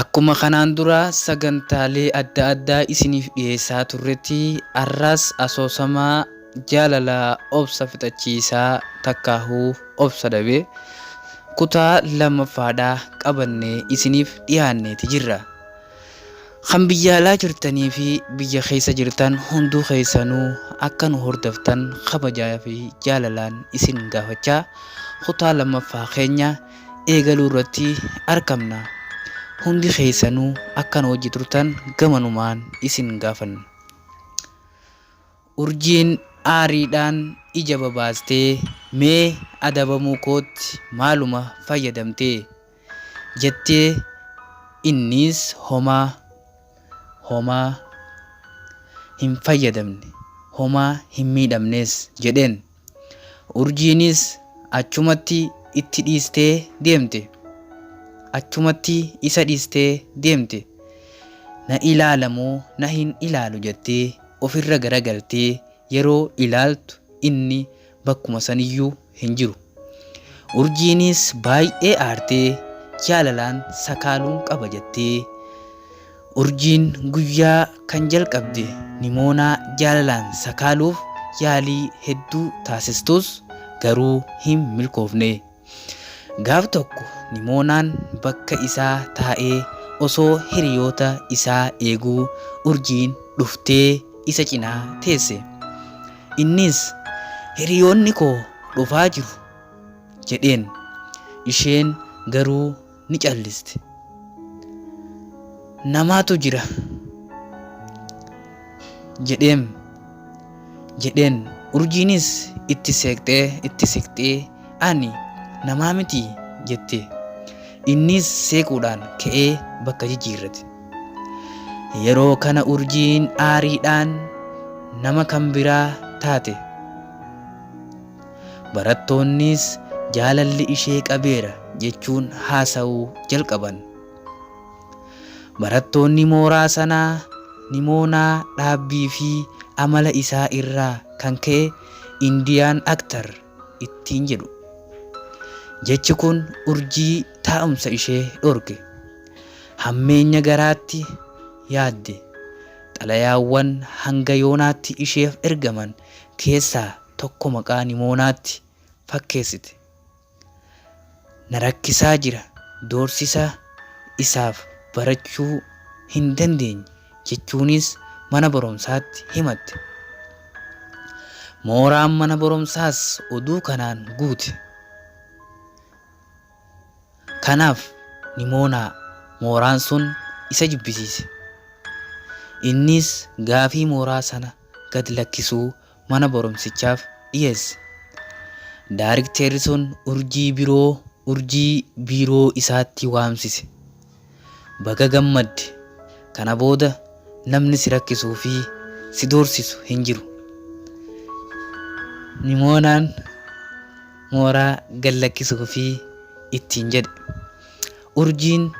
Akkuma kanaan dura sagantaalee adda addaa isiniif dhiyeessaa turretti arras asoosama Jaalala Obsa Fixachiisaa Takkaahuu Obsa Dhabe kutaa lammaffaadhaa qabannee isiniif dhiyaanneeti jirra. Kan biyya alaa jirtanii fi biyya keessa jirtan hunduu keessanuu akka nu hordoftan kabajaa fi jaalalaan isin gaafachaa kutaa lammaffaa keenya eegaluu irratti arkamna. Hundi keessanuu akka nu wajji turtan gamanumaan isin gaafanna. Urjiin aariidhaan ija babaastee mee adabamuu kootti maaluma fayyadamte? jettee inniis homaa, homaa hin fayyadamne, homaa hin miidhamnes jedheen. Urjiinis achumatti itti dhiistee deemte. Achumatti isa dhiistee deemte. Na ilaala moo na hin ilaalu jettee ofirra garagaltee yeroo ilaaltu inni bakkuma saniyyuu hin jiru. Urjiinis baay'ee aartee jaalalaan sakaaluun qaba jettee. Urjiin guyyaa kan jalqabde Nimoonaa jaalalaan sakaaluuf yaalii hedduu taasistus garuu hin milkoofne. Gaaf tokko Nimoonaan bakka isaa taa'ee osoo hiriyoota isaa eeguu Urjiin dhuftee isa cinaa teesse. Innis hiriyoonni koo dhufaa jiru jedheen. Isheen garuu ni calliste. Namaatu jira jedheem jedheen urjiinis itti seeqxee itti siqxee ani namaa miti jette innis seequudhaan ka'ee bakka jijjiirrate. Yeroo kana urjiin aariidhaan nama kan biraa taate. Barattoonnis jaalalli ishee qabeera jechuun haasa'uu jalqaban. Barattoonni mooraa sanaa Nimoonaa dhaabbii fi amala isaa irraa kan ka'e Indian actor ittiin jedhu. Jechi kun urjii taa'umsa ishee dhorke. Hammeenya garaatti yaadde. Xalayaawwan hanga yoonaatti isheef ergaman keessaa tokko maqaa Nimoonaatti fakkeessite. Na rakkisaa jira, doorsisaa isaaf barachuu hin dandeenye jechuunis mana barumsaatti himatte. Mooraan mana barumsaas oduu kanaan guute. Kanaaf Nimoonaa mooraan sun isa jibbisiise. Innis gaafii mooraa sana gad lakkisuu mana barumsichaaf dhiyeesse. Daarikteerri sun urjii biroo urjii biiroo isaatti waamsise. Baga gammadde! Kana booda namni si rakkisuu fi si doorsisu hin jiru. Nimoonaan mooraa gad lakkisuufii ittiin jedhe. Urjiin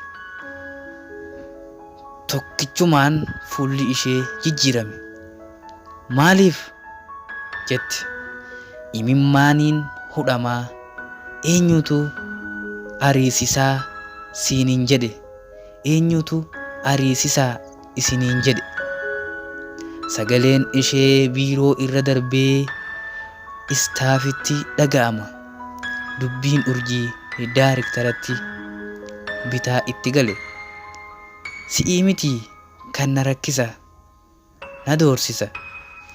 tokkichumaan fuulli ishee jijjiirame. Maaliif? jette imimmaaniin hudhamaa. Eenyuutu ariisisaa siinin jedhe? Eenyuutu ariisisaa? isiniin jedhe. Sagaleen ishee biiroo irra darbee istaafitti dhaga'ama. Dubbiin urjii daariktaratti bitaa itti gale. Si'ii miti kan na rakkisa, na doorsisa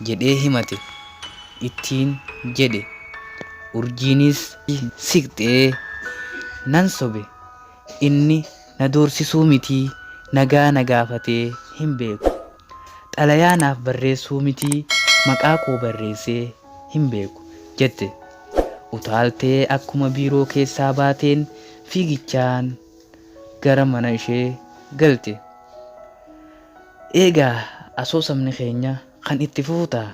jedhee himate ittiin jedhe. Urjiinis siqxee nan sobe Inni na doorsisuu mitii nagaa na gaafatee hin beeku. Xalayaa naaf barreessuu mitii maqaa koo barreessee hin beeku, jette utaaltee akkuma biiroo keessaa baateen fiigichaan gara mana ishee galte. Eegaa asoosamni keenya kan itti fufu ta'a.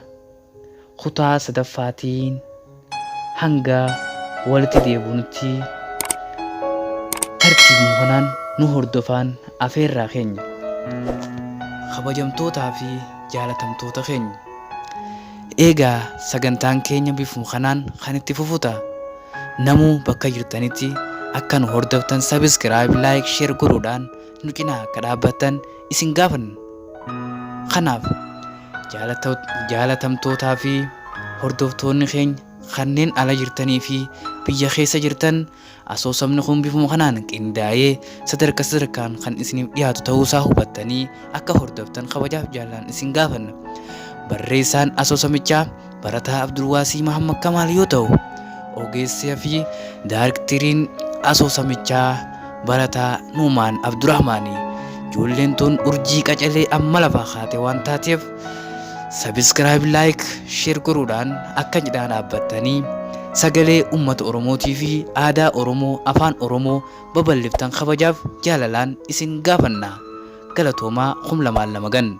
kutaa sadaffaatiin hanga walitti deebunutti tartiibuma kanaan nu hordofaan afeerraa keenya. Kabajamtootaa fi jaalatamtoota keenya! Eegaa sagantaan keenya bifuma kanaan kan itti fufu ta'a. Namuu bakka jirtanitti akka nu hordoftan subscribe, like, share godhuudhaan nu cinaa akka dhaabbattan isin gaafanna. Kanaaf, jaalatamtootaa fi hordoftoonni keenya kanneen ala jirtanii fi biyya keessa jirtan, asoosamni kun bifuma kanaan qindaa'ee sadarka sadarkaan kan isiniif dhiyaatu ta'uu isaa hubattanii akka hordoftan kabajaaf jaalaan isin gaafanna. Barreessaan asoosamichaa barataa Abdulwaasii Mahammad Kamaal yoo ta'u, ogeessaa fi daarektiriin asoosamichaa barataa Nuumaan Abdurahmaani. Ijoolleen tun urjii qacalee amma lafaa kaate waan taateef sabiskiraayib laayik sheer godhuudhaan akka cidhaa dhaabbattanii sagalee uummata Oromootii fi aadaa Oromoo afaan Oromoo babal'iftan kabajaaf jaalalaan isin gaafanna. Galatoomaa kum lamaan lama gan.